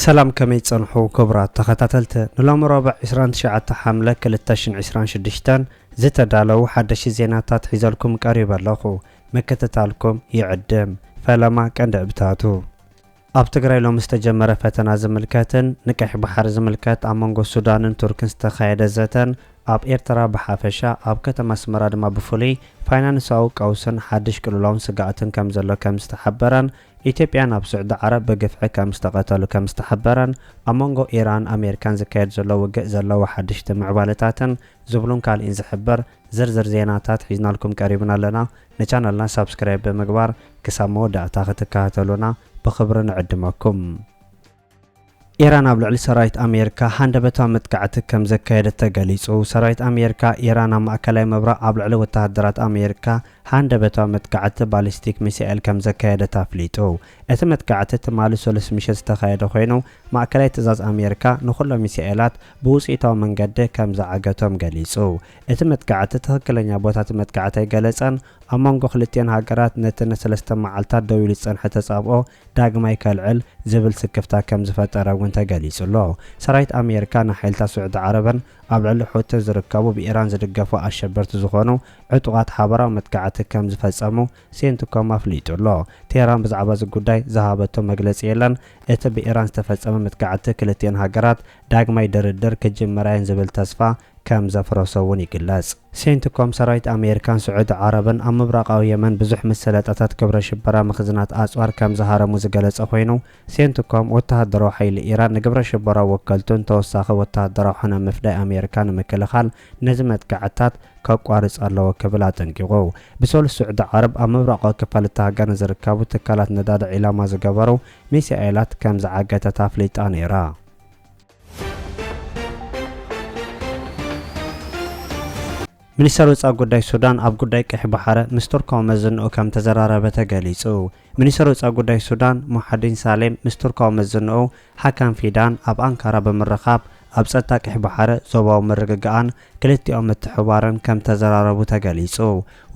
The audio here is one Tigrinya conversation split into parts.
ሰላም ከመይ ትጸንሑ ክቡራት ተኸታተልቲ ንሎሚ ረቡዕ ዕስራን ትሽዓተ ሓምለ ክልተ ሽሕን ዕስራን ሽዱሽተን ዝተዳለዉ ሓደሽቲ ዜናታት ሒዘልኩም ቀሪበ ኣለኹ ምክትታልኩም ይዕድም ፈለማ ቀንዲ ዕብታቱ ኣብ ትግራይ ሎሚ ዝተጀመረ ፈተና ዝምልከትን ንቀይሕ ባሕሪ ዝምልከት ኣብ መንጎ ሱዳንን ቱርክን ዝተኻየደ ዘተን ኣብ ኤርትራ ብሓፈሻ ኣብ ከተማ ኣስመራ ድማ ብፍሉይ ፋይናንሳዊ ቀውስን ሓድሽ ቅልውላውን ስግኣትን ከምዘሎ ከምዝተሓበረን ኢትዮጵያን ኣብ ስዑዲ ዓረብ ብግፍዒ ከምዝተቐተሉ ከምዝተሓበረን ኣብ መንጎ ኢራንን ኣሜሪካን ዝካየድ ዘሎ ውግእ ዘለዎ ሓደሽቲ ምዕባለታትን ዝብሉን ካልእን ዝሕብር ዝርዝር ዜናታት ሒዝናልኩም ቀሪብና ኣለና። ንቻነልና ሳብስክራይብ ብምግባር ክሳብ መወዳእታ ክትከታተሉና ብኽብሪ ንዕድመኩም። ኢራን ኣብ ልዕሊ ሰራዊት ኣሜሪካ ሃንደበታዊ መጥቃዕቲ ከም ዘካየደት ተገሊጹ። ሰራዊት ኣሜሪካ፣ ኢራን ኣብ ማእከላይ ምብራቕ ኣብ ልዕሊ ወተሃደራት ኣሜሪካ ሃንደበታዊ መጥቃዕቲ ባሊስቲክ ሚሳኤል ከም ዘካየደት ኣፍሊጡ። እቲ መጥቃዕቲ ትማሊ ሰሉስ ምሸት ዝተኻየደ ኮይኑ፣ ማእከላይ ትእዛዝ ኣሜሪካ ንኹሎም ሚሳኤላት ብውጽኢታዊ መንገዲ ከም ዝዓገቶም ገሊጹ። እቲ መጥቃዕቲ ትኽክለኛ ቦታ እቲ መጥቃዕቲ ኣይገለጸን። ኣብ መንጎ ክልቲኤን ሃገራት ነቲ ንሰለስተ መዓልታት ደው ኢሉ ዝጸንሐ ተጻብኦ ዳግማይ ከልዕል ዝብል ስክፍታ ከም ዝፈጠረ እውን ተገሊጹ'ሎ። ሰራዊት ኣሜሪካ ንሓይልታት ስዑዲ ዓረብን ኣብ ልዕሊ ሑቲ ዝርከቡ ብኢራን ዝድገፉ ኣሸበርቲ ዝኾኑ ዕጡቓት ሓበራዊ መጥቃዕቲ ከም ዝፈጸሙ ሴንትኮም ኣፍሊጡ'ሎ። ቴህራን ብዛዕባ እዚ ጉዳይ ዝሃበቶ መግለጺ የለን። እቲ ብኢራን ዝተፈጸመ መጥቃዕቲ ክልቲኤን ሃገራት ዳግማይ ድርድር ክጅምራ'የን ዝብል ተስፋ ከም ዘፍረሶ እውን ይግለጽ። ሴንትኮም፣ ሰራዊት ኣሜሪካን ስዑዲ ዓረብን ኣብ ምብራቓዊ የመን ብዙሕ መሰለጣታት ግብረ ሽበራ መኽዝናት ኣጽዋር ከም ዝሃረሙ ዝገለጸ ኮይኑ፣ ሴንትኮም፣ ወተሃደራዊ ሓይሊ ኢራን ንግብረ ሽበራዊ ወከልቱን ተወሳኺ ወተሃደራዊ ሕነ ምፍዳይ ኣሜሪካ ንምክልኻል ነዚ መጥቃዕትታት ከቋርጽ ኣለዎ ክብል ኣጠንቂቑ። ብሰሉስ ስዑዲ ዓረብ ኣብ ምብራቓዊ ክፋል እታ ሃገር ንዝርከቡ ትካላት ነዳዲ ዒላማ ዝገበሩ ሚሳኤላት ከም ዝዓገተት ኣፍሊጣ ነይራ። ሚኒስተር ወጻኢ ጉዳይ ሱዳን ኣብ ጉዳይ ቀይሕ ባሕረ ምስ ቱርካዊ መዘንኡ ከም ተዘራረበ ተገሊጹ። ሚኒስተር ወጻኢ ጉዳይ ሱዳን ሙሓዲን ሳሌም ምስ ቱርካዊ መዘንኡ ሓካም ፊዳን ኣብ ኣንካራ ብምርኻብ ኣብ ጸጥታ ቀይሕ ባሕረ፣ ዞባዊ ምርግጋእን ክልቲኦም ምትሕብባረን ከም ተዘራረቡ ተገሊጹ።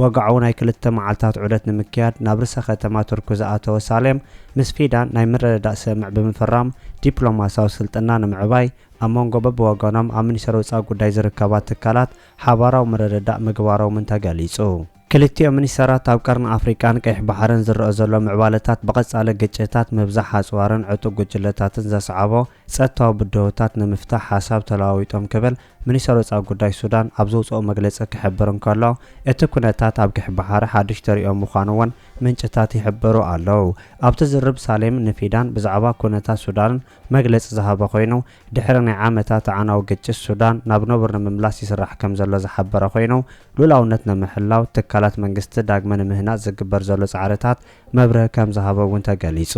ወግዓዊ ናይ ክልተ መዓልታት ዑደት ንምክያድ ናብ ርእሰ ከተማ ቱርኪ ዝኣተወ ሳሌም፣ ምስ ፊዳን ናይ ምርድዳእ ስምምዕ ብምፍራም ዲፕሎማስያዊ ስልጥና ንምዕባይ ኣብ መንጎ በብወገኖም ኣብ ሚኒስተር ወጻኢ ጉዳይ ዝርከባ ትካላት ሓባራዊ ምርድዳእ ምግባሮምን ተገሊጹ። ክልቲኦም ሚኒስተራት ኣብ ቀርኒ ኣፍሪቃን ቀይሕ ባሕርን ዝረኣ ዘሎ ምዕባለታት ብቐጻሊ ግጭታት፣ ምብዛሕ ኣጽዋርን ዕጡቕ ጉጅለታትን ዘስዓቦ ጸጥታዊ ብድሆታት ንምፍታሕ ሓሳብ ተለዋዊጦም ክብል ሚኒስተር ወጻኢ ጉዳይ ሱዳን ኣብ ዘውጽኦ መግለጺ ክሕብር እንከሎ እቲ ኩነታት ኣብ ቀይሕ ባሕሪ ሓድሽ ተርእዮ ምዃኑ'ውን ምንጭታት ይሕብሩ ኣለዉ። ኣብቲ ዝርብ ሳሌም ንፊዳን ብዛዕባ ኩነታት ሱዳን መግለጺ ዝሃበ ኮይኑ፣ ድሕሪ ናይ ዓመታት ኣዕናዊ ግጭት ሱዳን ናብ ነቡር ንምምላስ ይስራሕ ከምዘሎ ዝሓበረ ኮይኑ፣ ሉእላውነት ንምሕላው ትካላት መንግስቲ ዳግመ ንምህናጽ ዝግበር ዘሎ ጻዕርታት መብርሂ ከምዝሃበ እውን ተገሊጹ።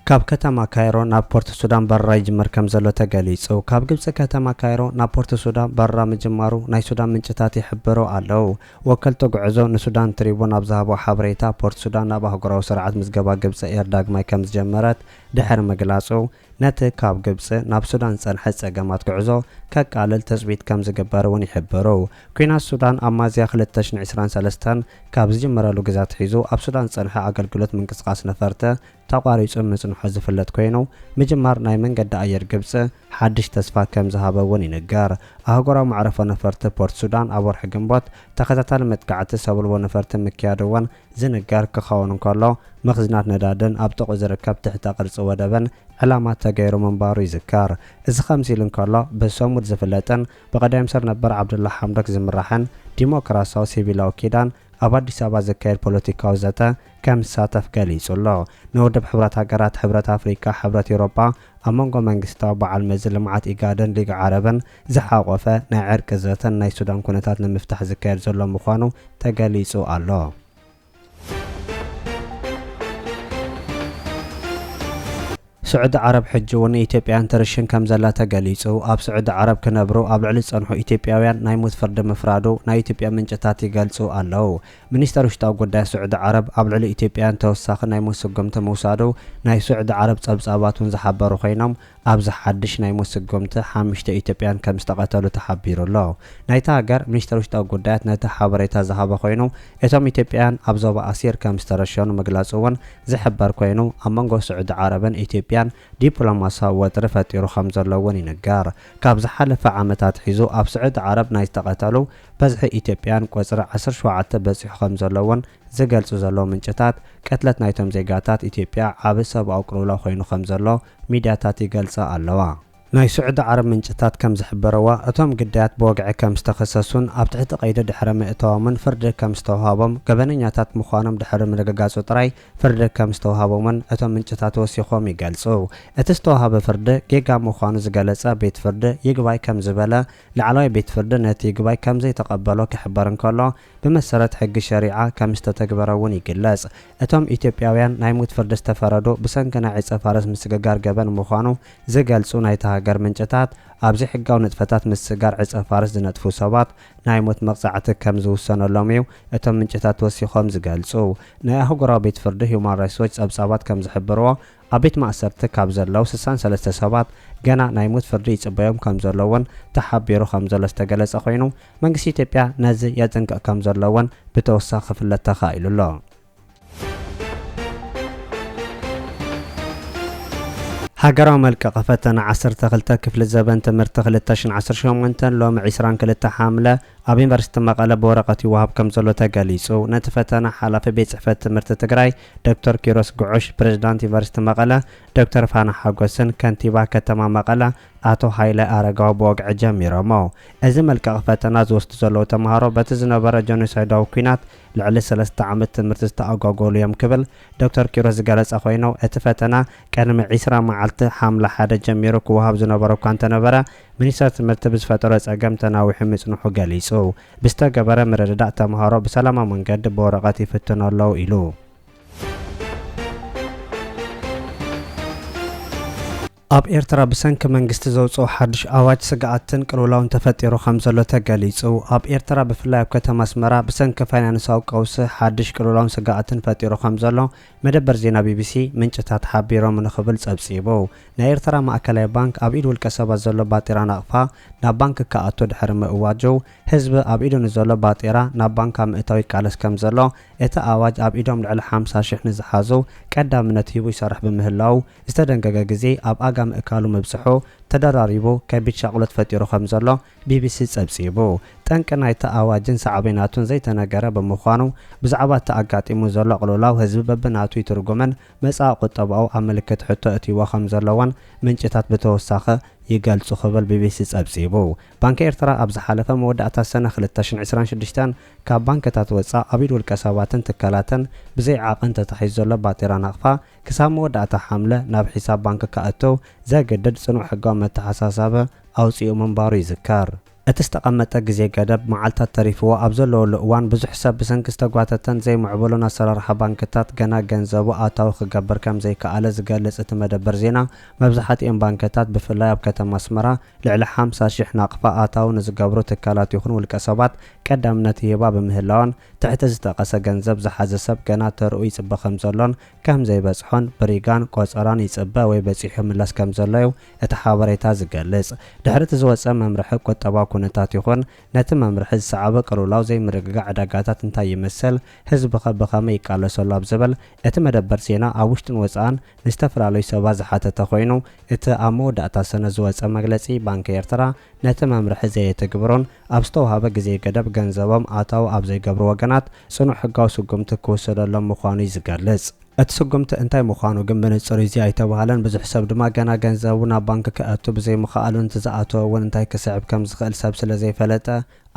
ካብ ከተማ ካይሮ ናብ ፖርት ሱዳን በረራ ይጅመር ከምዘሎ ተገሊጹ። ካብ ግብጺ ከተማ ካይሮ ናብ ፖርት ሱዳን በረራ ምጅማሩ ናይ ሱዳን ምንጭታት ይሕብሩ ኣለው። ወከልቲ ጉዕዞ ንሱዳን ትሪቡን ኣብ ዝሃብኦ ሓበሬታ፣ ፖርትሱዳን ናብ ኣህጉራዊ ስርዓት ምዝገባ ግብፂ ኤር ዳግማይ ከምዝጀመረት ድሕሪ ምግላፁ፣ ነቲ ካብ ግብፂ ናብ ሱዳን ዝፀንሐ ፀገማት ጉዕዞ ከቃልል ትፅቢት ከምዝግበር እውን ይሕብሩ። ኲናት ሱዳን ኣብ ሚያዝያ ክልተ ሽሕን ዕስራን ሰለስተን ካብ ዝጅመረሉ ግዘ ኣትሒዙ ኣብ ሱዳን ዝፀንሐ ኣገልግሎት ምንቅስቓስ ነፈርቲ ተቋሪጹ ምጽንሑ ዝፍለጥ ኮይኑ፣ ምጅማር ናይ መንገዲ ኣየር ግብጺ ሓድሽ ተስፋ ከም ዝሃበ እውን ይንገር። ኣህጉራዊ መዕረፎ ነፈርቲ ፖርት ሱዳን ኣብ ወርሒ ግንቦት ተኸታታሊ መጥቃዕቲ ሰብልቦ ነፈርቲ ምክያዱ እውን ዝንገር ክኸውን እንከሎ፣ መኽዝናት ነዳድን ኣብ ጥቕኡ ዝርከብ ትሕተ ቅርጺ ወደብን ዕላማ ተገይሩ ምንባሩ ይዝከር። እዚ ከምዚ ኢሉ እንከሎ፣ ብሰሙድ ዝፍለጥን ብቀዳይምኒስተር ነበር ዓብደላ ሓምዶክ ዝምራሕን ዲሞክራሲያዊ ሲቪላዊ ኪዳን፣ ኣብ ኣዲስ ኣበባ ዝካየድ ፖለቲካዊ ዘተ ከምዝሳተፍ ገሊጹ ኣሎ። ንውድብ ሕብራት ሃገራት፣ ሕብረት ኣፍሪቃ፣ ሕብረት ኤውሮጳ፣ ኣብ መንጎ መንግስታዊ በዓል መዚ ልምዓት ኢጋድን ሊግ ዓረብን ዝሓቖፈ ናይ ዕርቂ ዘተን ናይ ሱዳን ኩነታት ንምፍታሕ ዝካየድ ዘሎ ምዃኑ ተገሊጹ ኣሎ። ስዑዲ ዓረብ ሕጂ እውን ንኢትዮጵያውያን ትርሽን ከምዘላ ተገሊጹ። ኣብ ስዑዲ ዓረብ ክነብሩ ኣብ ልዕሊ ዝጸንሑ ኢትዮጵያውያን ናይ ሞት ፍርዲ ምፍራዱ ናይ ኢትዮጵያ ምንጭታት ይገልጹ ኣለው። ሚኒስተር ውሽጣዊ ጉዳያት ስዑዲ ዓረብ ኣብ ልዕሊ ኢትዮጵያውያን ተወሳኺ ናይ ሞት ስጉምቲ ምውሳዱ ናይ ስዑዲ ዓረብ ጸብጻባት እውን ዝሓበሩ ኮይኖም ኣብዚ ሓድሽ ናይ ሞት ስጉምቲ ሓምሽተ ኢትዮጵያውያን ከምዝተቐተሉ ተሓቢሩ ኣሎ። ናይታ ሃገር ሚኒስተር ውሽጣዊ ጉዳያት ነቲ ሓበሬታ ዝሃበ ኮይኑ እቶም ኢትዮጵያውያን ኣብ ዞባ ኣሲር ከም ዝተረሸኑ ምግላጹ እውን ዝሕበር ኮይኑ፣ ኣብ መንጎ ስዑዲ ዓረብን ኢትዮጵያን ዲፕሎማስያዊ ወጥሪ ፈጢሩ ከም ዘሎ እውን ይንገር። ካብ ዝሓለፈ ዓመት ኣትሒዙ ኣብ ስዑዲ ዓረብ ናይ ዝተቐተሉ በዝሒ ኢትዮጵያውያን ቁጽሪ ዓሰርተ ሸውዓተ በጺሑ ከም ዘሎ እውን ዝገልጹ ዘለዉ ምንጭታት፣ ቅትለት ናይቶም ዜጋታት ኢትዮጵያ ዓቢ ሰብኣዊ ቅልውላው ኮይኑ ከም ዘሎ ሚድያታት ይገልጻ ኣለዋ። ናይ ስዑዲ ዓረብ ምንጭታት ከም ዝሕበረዎ፣ እቶም ግዳያት ብወግዒ ከም ዝተኸሰሱን ኣብ ትሕቲ ቀይዲ ድሕሪ ምእታዎምን ፍርዲ ከም ዝተውሃቦም፣ ገበነኛታት ምዃኖም ድሕሪ ምርግጋጹ ጥራይ ፍርዲ ከም ዝተውሃቦምን እቶም ምንጭታት ወሲኾም ይገልጹ። እቲ ዝተውሃበ ፍርዲ ጌጋ ምዃኑ ዝገለጸ ቤት ፍርዲ ይግባይ ከም ዝበለ፣ ላዕለዋይ ቤት ፍርዲ ነቲ ይግባይ ከም ዘይተቐበሎ ክሕበር እንከሎ፣ ብመሰረት ሕጊ ሸሪዓ ከምዝተተግበረ እውን ይግለጽ። እቶም ኢትዮጵያውያን ናይ ሙት ፍርዲ ዝተፈረዱ ብሰንኪ ናይ ዕጸፋርስ ምስግጋር ገበን ምዃኑ ዝገልጹ ናይታ ሃገር ምንጭታት፣ ኣብ ዘይሕጋዊ ንጥፈታት ምስግጋር ዕጸፋርስ ዝነጥፉ ሰባት ናይ ሞት መቕጻዕቲ ከምዝውሰነሎም እዩ እቶም ምንጭታት ወሲኾም ዝገልጹ። ናይ ኣህጉራዊ ቤት ፍርዲ ሁማን ራይትስ ዎች ጸብጻባት ከምዝሕብርዎ፣ ኣብ ቤት ማእሰርቲ ካብ ዘለዉ ስሳን ሰለስተ ሰባት ገና ናይ ሞት ፍርዲ ይጽበዮም ከምዘሎ እውን ተሓቢሩ ከምዘሎ ዝተገለጸ ኮይኑ መንግስቲ ኢትዮጵያ ነዚ የጽንቅቕ ከምዘሎ እውን ብተወሳኺ ክፍለጥ ተኻኢሉ ኣሎ። ሃገራዊ መልቀቒ ፈተና ዓሰርተ ክልተ ክፍሊ ዘበን ትምህርቲ ክልተ ሽሕን ዓሰርተ ሸሞንተን ሎሚ ዕስራን ክልተ ሓምለ ኣብ ዩኒቨርሲቲ መቐለ ብወረቐት ይወሃብ ከምዘሎ ተገሊፁ። ነቲ ፈተና ሓላፊ ቤት ፅሕፈት ትምህርቲ ትግራይ ዶክተር ኪሮስ ጉዑሽ ፕሬዝዳንት ዩኒቨርሲቲ መቐለ ዶክተር ፋና ሓጎስን ከንቲባ ከተማ መቐለ ኣቶ ሃይለ ኣረጋዊ ብወግዒ ጀሚሮሞ። እዚ መልቀቒ ፈተና ዝወስዱ ዘለዉ ተምሃሮ በቲ ዝነበረ ጀኖሳይዳዊ ኲናት ልዕሊ ሰለስተ ዓመት ትምህርቲ ዝተኣጓጎሉ እዮም ክብል ዶክተር ኪሮስ ዝገለፀ ኮይኑ እቲ ፈተና ቅድሚ ዕስራ መዓልቲ ሓምለ ሓደ ጀሚሩ ክወሃብ ዝነበሮ እኳ እንተነበረ ሚኒስቴር ትምህርቲ ብዝፈጠሮ ፀገም ተናዊሑ ምፅንሑ ገሊፁ። ብዝተገበረ ምርድዳእ ተምሃሮ ብሰላማዊ መንገዲ ብወረቐት ይፍትኑ ኣለዉ ኢሉ። ኣብ ኤርትራ ብሰንኪ መንግስቲ ዘውጽኦ ሓድሽ ኣዋጅ ስግኣትን ቅልውላውን ተፈጢሩ ከምዘሎ ተገሊጹ። ኣብ ኤርትራ ብፍላይ ኣብ ከተማ ኣስመራ ብሰንኪ ፋይናንሳዊ ቀውሲ ሓድሽ ቅልውላውን ስግኣትን ፈጢሩ ከምዘሎ መደበር ዜና ቢቢሲ ምንጭታት ሓቢሮም ንክብል ጸብጺቡ። ናይ ኤርትራ ማእከላይ ባንክ ኣብ ኢድ ውልቀሰባት ዘሎ ባጤራ ናቕፋ ናብ ባንክ ክኣቱ ድሕሪ ምእዋጁ፣ ህዝቢ ኣብ ኢዱ ንዘሎ ባጤራ ናብ ባንካ ምእታው ይቃለስ ከምዘሎ፣ እቲ ኣዋጅ ኣብ ኢዶም ልዕሊ ሓምሳ ሽሕ ንዝሓዙ ቀዳምነት ሂቡ ይሰርሕ ብምህላዉ፣ ዝተደንገገ ግዜ ኣብ ኣጋ ምእካሉ ምብጽሑ ተደራሪቡ ከቢድ ሻቕሎት ፈጢሩ ከምዘሎ ቢቢሲ ጸብጺቡ። ጠንቂ ናይቲ ኣዋጅን ሳዕቤናቱን ዘይተነገረ ብምዃኑ፣ ብዛዕባ እቲ ኣጋጢሙ ዘሎ ቅልውላው ህዝቢ በብናቱ ይትርጉምን መጻኢ ቁጠባኡ ኣብ ምልክት ሕቶ ኣእትይዎ ከም ዘሎ'ውን ምንጭታት ብተወሳኺ ይገልጹ ክብል ቢቢሲ ጸብጺቡ። ባንኪ ኤርትራ ኣብ ዝሓለፈ መወዳእታ ሰነ ክልተ ሽሕን ዕስራን ሽዱሽተን ካብ ባንክታት ወጻእ ኣብ ኢድ ውልቀ ሰባትን ትካላትን ብዘይ ዓቐን ተታሒዙ ዘሎ ባጤራ ናቕፋ ክሳብ መወዳእታ ሓምለ ናብ ሒሳብ ባንኪ ከእቱ ዘግድድ ጽኑዕ ሕጋዊ መተሓሳሳቢ ኣውጺኡ ምንባሩ ይዝከር። እቲ ዝተቐመጠ ግዜ ገደብ መዓልታት ተሪፍዎ ኣብ ዘለወሉ እዋን ብዙሕ ሰብ ብሰንኪ ዝተጓተተን ዘይምዕቡልን ኣሰራርሓ ባንክታት ገና ገንዘቡ ኣታዊ ክገብር ከምዘይከኣለ ዝገልፅ እቲ መደበር ዜና መብዝሓቲኤን ባንክታት ብፍላይ ኣብ ከተማ ኣስመራ ልዕሊ ሓምሳ ሽሕ ናቕፋ ኣታዊ ንዝገብሩ ትካላት ይኹን ውልቀ ሰባት ቀዳምነት ይህባ ብምህላወን ትሕቲ ዝጠቐሰ ገንዘብ ዝሓዘ ሰብ ገና ተርኡ ይፅበ ከምዘሎን ከምዘይበፅሖን ብሪጋን ቆፀራን ይፅበ ወይ በፂሑ ይምለስ ከምዘሎዩ እቲ ሓበሬታ ዝገልጽ፣ ድሕሪ እቲ ዝወጸ መምርሒ ቁጠባዊ ኩነታት ይኹን ነቲ መምርሒ ዝሰዓበ ቅልውላው ዘይምርግጋእ ዕዳጋታት እንታይ ይመስል፣ ህዝቢ'ኸ ብኸመይ ይቃለሰሉ ኣብ ዝብል እቲ መደበር ዜና ኣብ ውሽጥን ወጻእን ንዝተፈላለዩ ሰባት ዝሓተተ ኮይኑ፣ እቲ ኣብ መወዳእታ ሰነ ዝወጸ መግለጺ ባንኪ ኤርትራ ነቲ መምርሒ ዘየትግብሩን ኣብ ዝተውሃበ ግዜ ገደብ ገንዘቦም ኣታዊ ኣብ ዘይገብሩ ወገናት ጽኑዕ ሕጋዊ ስጉምቲ ክውሰደሎም ምዃኑ'ዩ ዝገልጽ። እቲ ስጉምቲ እንታይ ምዃኑ ግን ብንጹር እዚ ኣይተባህለን፣ ብዙሕ ሰብ ድማ ገና ገንዘቡ ናብ ባንክ ከእቱ ብዘይምኽኣሉን እቲ ዝኣተወ እውን እንታይ ክስዕብ ከም ዝኽእል ሰብ ስለ ዘይፈለጠ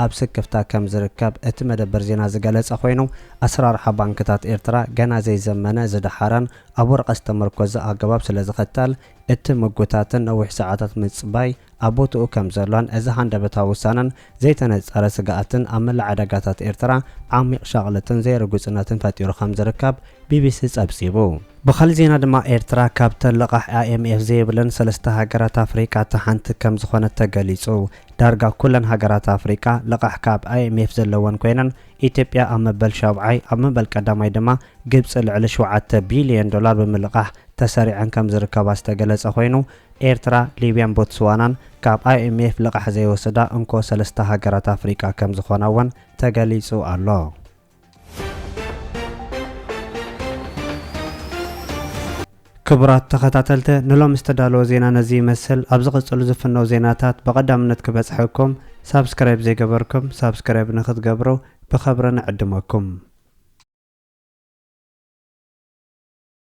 ኣብ ስክፍታ ከም ዝርከብ እቲ መደበር ዜና ዝገለጸ ኮይኑ፣ ኣሰራርሓ ባንክታት ኤርትራ ገና ዘይዘመነ፣ ዝደሓረን ኣብ ወረቐት ዝተመርኮዘ ኣገባብ ስለ ዝኽተል፣ እቲ ምጉታትን ነዊሕ ሰዓታት ምጽባይ ኣብ ቦትኡ ከም ዘሎን እዚ ሃንደበታዊ ውሳነን ዘይተነጻረ ስግኣትን ኣብ መላእ ዕዳጋታት ኤርትራ ዓሚቕ ሻቕለትን ዘይርጉጽነትን ፈጢሩ ከም ዝርከብ ቢቢሲ ጸብጺቡ። ብኻልእ ዜና ድማ ኤርትራ ካብተን ለቓሕ ኣይኤምኤፍ ዘይብለን ሰለስተ ሃገራት ኣፍሪቃ እታ ሓንቲ ከም ዝኾነት ተገሊጹ። ዳርጋ ኩለን ሃገራት ኣፍሪቃ ለቓሕ ካብ ኣይኤምኤፍ ዘለወን ኮይነን ኢትዮጵያ ኣብ መበል ሻብዓይ ኣብ መበል ቀዳማይ ድማ ግብጺ ልዕሊ ሽውዓተ ቢልዮን ዶላር ብምልቓሕ ተሰሪዐን ከም ዝርከባ ዝተገለፀ ኮይኑ፣ ኤርትራ፣ ሊብያን ቦትስዋናን ካብ ኣይኤምኤፍ ልቓሕ ዘይወስዳ እንኮ ሰለስተ ሃገራት ኣፍሪቃ ከም ዝኾና እውን ተገሊፁ ኣሎ። ክቡራት ተኸታተልቲ ንሎሚ ዝተዳለወ ዜና ነዚ ይመስል። ኣብ ዝቕፅሉ ዝፍነው ዜናታት ብቐዳምነት ክበፅሐኩም ሳብስክራይብ ዘይገበርኩም ሳብስክራይብ ንክትገብሩ ብኸብሪ ንዕድመኩም።